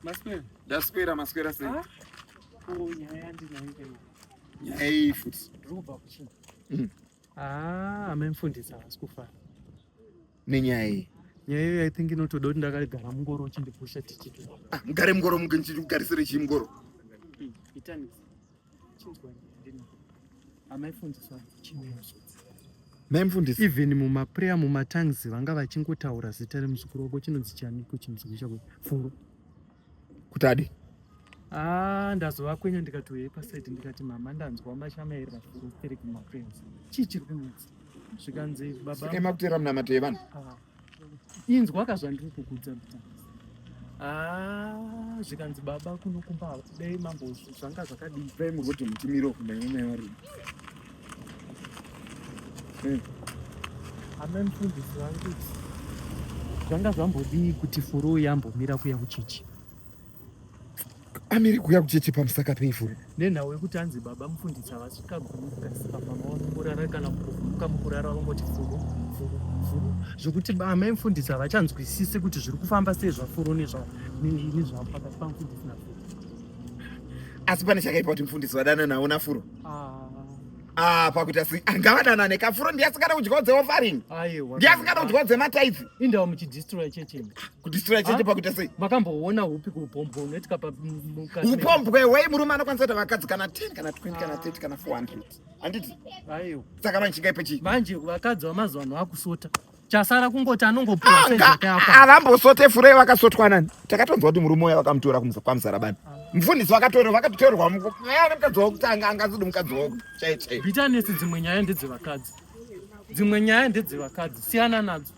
Maswera. Ndaswera maswera sei? Ah. Oh, nyaya ndinayo ikaiwa. Nyaya iyi futi. Ndikuba kuchini. Mm. Ah, amemfundisa asi kufara. Nenyaya iyi. Nyaya iyo I think inotoda kuti ndakagara mungoro uchindipusha tichiti. Ah, mugare mungoro mugarisire chii mungoro? Hmm, Itanisi. maimfundisi even mumaprayer mumatangs vanga vachingotaura zita remuzukuru wako chinonzi chani kuchimuzukuru chako furo kuti adi ah, ndazovakwenya ndikati uye pasaidi ndikati mama ndanzwa mashamairira furo iri kumaprayers chii chiri kunetsa zvikanzi baba ema kutera munamato yevanhu ah. inzwa ka zvandiri kukudza ah, zvikanzi baba kuno kumba dai mambo zvanga zvakadii dai muroti mutimiro kunaimari eh. ana mfundisi vangu zvanga zvambodii kuti furuu yambomira kuya kuchichi amiri kuuya kucheche pamusaka peifuri nenhau yekuti anzi baba mufundisi havasvika gumi kukasika mama vanokurara kana mukuvuka mukurara vangoti furu furu furu zvekuti amai mufundisi havachanzwisisi kuti zviri kufamba sei zvafuru nezvavo pakati pamufundisi nafuru asi pane chakaipa kuti mufundisi vadana navo nafuro ah. ah, pakuita si ah, ngavadana nekafuro ndiye asingada kudyawo dzeofaring ndiye asingada kudyawo dzemataipsi indawo muchidistroy checheni kudistroya cheche ah, pakuita sei makamboona upi kuupombwa unoitika paupombwa iwei murume anokwanisa kuita vakadzi kana 10 kana 20 kana 30 kana 400 handiti aiwa saka vanchika ipo chii manje vakadzi vamazuva ano vakusota chasara kungoti anongoavambosote furei vakasotwa nani takatonzwa kuti murume uya vakamutora kwamuzara bani ah. mfundisi vakatorewa vakatotorwa aya nemukadzi wokutanga angazidi mukadzi woko chaichai bitanesi dzimwe nyaya ndedzevakadzi dzimwe nyaya ndedzevakadzi siyana nadzo